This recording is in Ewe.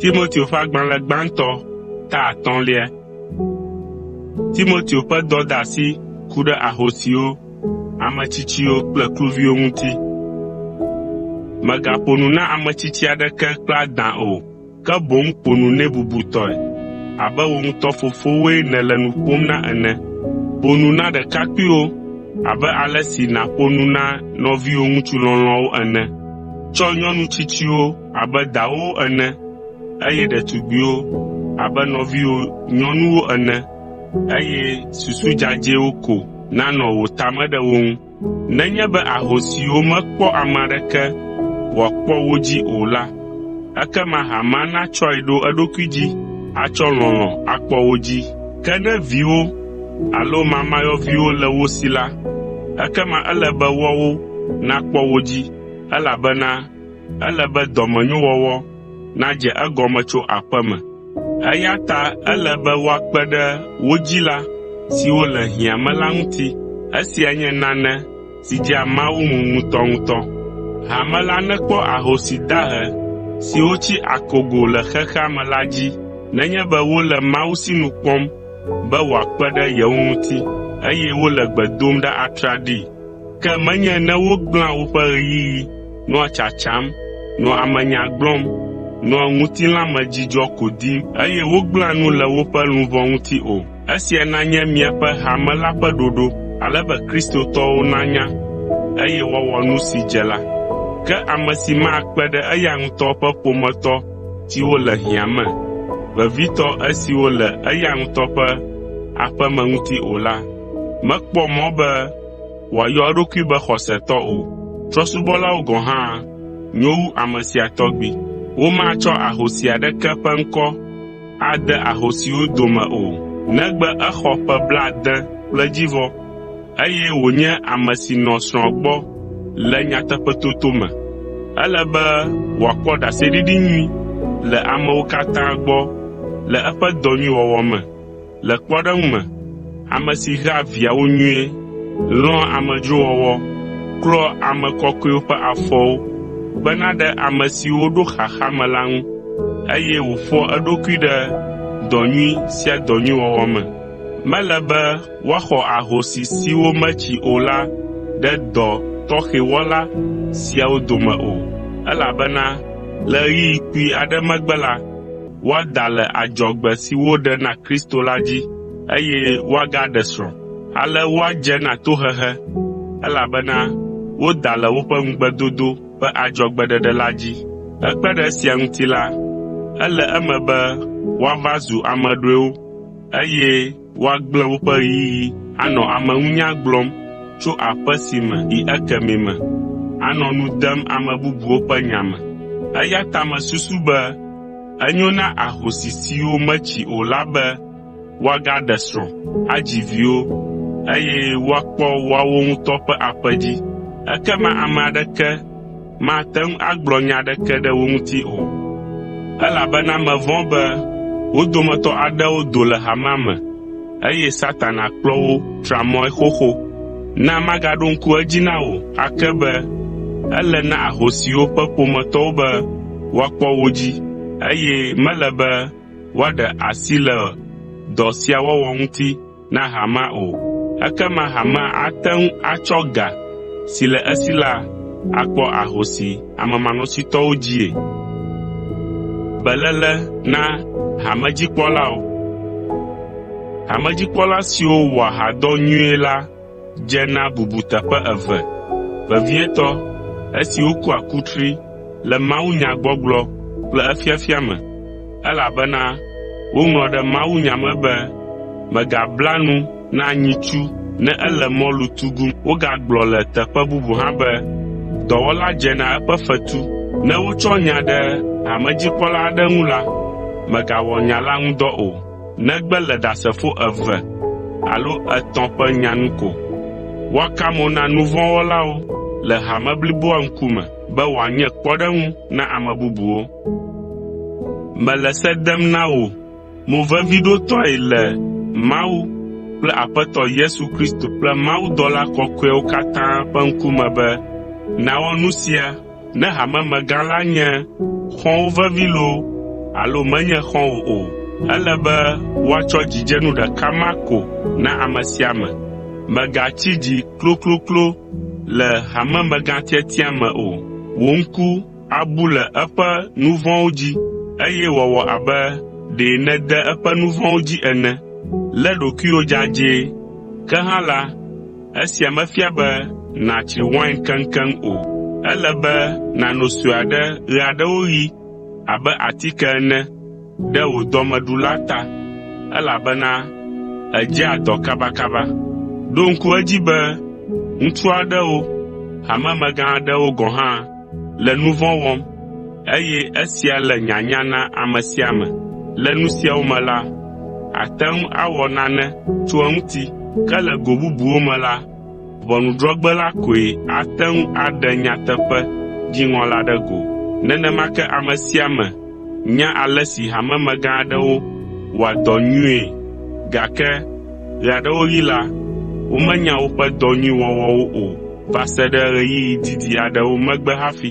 Timoteo ƒe agbalẽ gbãtɔ ta atɔ̃lia. Timoteo ƒe dɔdeasi ku ɖe ahosiwo, ame tsitsiwo kple kluviwo ŋuti. Mègaƒo nu na ame tsitsi aɖeke kple adã o, ke boŋ ƒo nu nɛ bubutɔe abe wò ŋutɔ fofowoe nèle nu ƒom na ene. Ƒo nu na ɖekakpuiwo abe ale si nàƒo nu na nɔviwò ŋutsu lɔlɔ̃awo ene. Tsɔ nyɔnu tsitsiwo abe dawòwo ene, eye ɖetugbiwo abe nɔviwò nyɔnuwo ene, eye susu dzadzɛwo ko nanɔ wò ta me ɖe wo ŋu. Nenye be ahosiwo mekpɔ ame aɖeke wòakpɔ wo dzi o la, ekema hamea natsɔe ɖo eɖokui dzi atsɔ lɔlɔ̃ akpɔ wo dzi. Ke ne viwo alo mamayɔviwo le wo si la, ekema ele be woawo nakpɔ wo dzi, elabena ele be dɔmenyowɔwɔ nadze egɔme tso aƒe me. Eya ta ele be woakpe ɖe wo dzila siwo le hiã me la ŋuti. Esia nye nane si dzea Mawu ŋu ŋutɔŋutɔ. Hame la nekpɔ ahosi dahe siwo tsi akogo le xexea me la dzi nenye be wole Mawu sinu kpɔm be wòakpe ɖe yewo ŋuti, eye wole gbe dom ɖa atraɖii. Ke menye ne wogblẽa woƒe ɣeyiɣi nɔa tsatsam, nɔa amenya gblɔm, nɔa ŋutilã me dzidzɔ ko dim, eye wogblẽa nu le woƒe luʋɔ ŋuti o. Esia nanye miaƒe hame la ƒe ɖoɖo, ale be Kristotɔwo nanya, eye woawɔ nu si dze la. Ke ame si makpe ɖe eya ŋutɔ ƒe ƒometɔ siwo le hiã me, vevitɔ esiwo le eya ŋutɔ ƒe aƒeme ŋuti o la, mekpɔ mɔ be wòayɔ eɖokui be xɔsetɔ o. Trɔ̃subɔlawo gɔ̃ hã nyo wu ame sia tɔgbi. Womatsɔ ahosi aɖeke ƒe ŋkɔ ade ahosiwo dome o, negbe exɔ ƒe blaade kple edzivɔ, eye wònye ame si nɔ srɔ̃a gbɔ le nyateƒetoto me. Ele be wòakpɔ ɖaseɖiɖi nyui le amewo katã gbɔ le eƒe dɔ nyui wɔwɔ me. Le kpɔɖeŋu me, ame si hea viawo nyuie, lɔ̃a amedzrowɔwɔ, klɔa ame kɔkɔewo ƒe afɔwo, kpena ɖe ame siwo ɖo xaxa me la ŋu, eye wòƒoa eɖokui ɖe dɔ nyui sia dɔ nyui wɔwɔ me. Mele be woaxɔ ahosi siwo metsi o la ɖe dɔ tɔxɛ wɔla siawo dome o, elabena le ɣeyiɣi kpui aɖe megbe la, woada le adzɔgbe si woɖe na Kristo la dzi, eye woagaɖe srɔ̃. Ale woadze na tohehe, elabena woda le woƒe ŋugbedodo ƒe adzɔgbeɖeɖe la dzi. Hekpe ɖe esia ŋuti la, ele eme be woava zu ame ɖɔewo, eye woagblẽ woƒe ɣeyiɣi anɔ ameŋunya gblɔm tso aƒe si me yi ekemɛ me, anɔ nu dem ame bubuwo ƒe nya me. Eya ta mesusu be enyo na ahosi siwo metsi o la be woagaɖe srɔ̃, adzi viwo, eye woakpɔ woawo ŋutɔ ƒe aƒe dzi. Ekema ame aɖeke mate ŋu agblɔ nya aɖeke ɖe wo ŋuti o, elabena mevɔ̃ be wo dometɔ aɖewo do le hamea me, eye Satana kplɔ wo tra mɔe xoxo. Na magaɖo ŋku edzi na wò ake be ele na ahosiwo ƒe ƒometɔwo be woakpɔ wo dzi, eye mele be woaɖe asi le dɔ sia wɔwɔ ŋuti na hamea o. Ekema hamea ate ŋu atsɔ ga si le esi la akpɔ ahosi amemanɔsitɔwo dzie. Hamedzikpɔla siwo wɔa hadɔ nyuie la dze na bubuteƒe eve, vevietɔ esi wokua kutri le mawunyagbɔgblɔ kple efiafia me, elabena woŋlɔ ɖe mawunya me be, “Mègabla nu na nyitsu ne ele mɔlu tugum.” Wogagblɔ le teƒe bubu hã be, “Dɔwɔla dzena eƒe fetu.” Ne wotsɔ nya ɖe hamedzikpɔla aɖe ŋu la, “Mègawɔ nya la ŋudɔ o.” negbe le Ɖasefo eve alo etɔ̃ ƒe nya nu ko. Woaka mo na nu vɔ̃ wɔlawo le hame bliboa ŋkume be wòanye kpɔɖeŋu na ame bubuwo. Mele se dem na wò moveviɖotɔe le Mawu kple Aƒetɔ Yesu Kristo kple mawudɔla kɔkɔeawo katã ƒe ŋkume be nàwɔ nu sia Ne hamemegã la nye xɔ̃wò vevi loo alo menye xɔ̃wò o, ele be woatsɔ dzidzenu ɖeka ma ko na ame sia ame. Mègatsi dzi klokloklo le hamemegãtiatia me o. Wò ŋku abu le eƒe nu vɔ̃wo dzi, eye wòawɔ abe ɖe nède eƒe nu vɔ̃wo dzi ene. Lé ɖokuiwò dzadzɛ, ke hã la, Esia mefia be nàtsri wain keŋkeŋ o. Ele be nàno sue aɖe ɣeaɖewoɣi abe atike ene ɖe wò dɔmeɖu la ta, elabena edzea dɔ kabakaba. Ɖo ŋku edzi be ŋutsu aɖewo, hamemegã aɖewo gɔ̃ hã le nu vɔ̃ wɔm, eye esia le nyanya na ame sia ame. Le nu siawo me la, àte ŋu awɔ nane tso eŋuti. Ke le go bubuwo me la, ʋɔnudrɔ̃gbe la koe ate ŋu aɖe nyateƒe dziŋɔ la ɖe go. Nenema ke ame sia ame nya ale si hamemegã aɖewo wɔa dɔ nyuie, gake ɣeaɖewoɣi la, womenya woƒe dɔ nyui wɔwɔwo o. va se ɖe ɣeyiɣi didi aɖewo megbe hafi.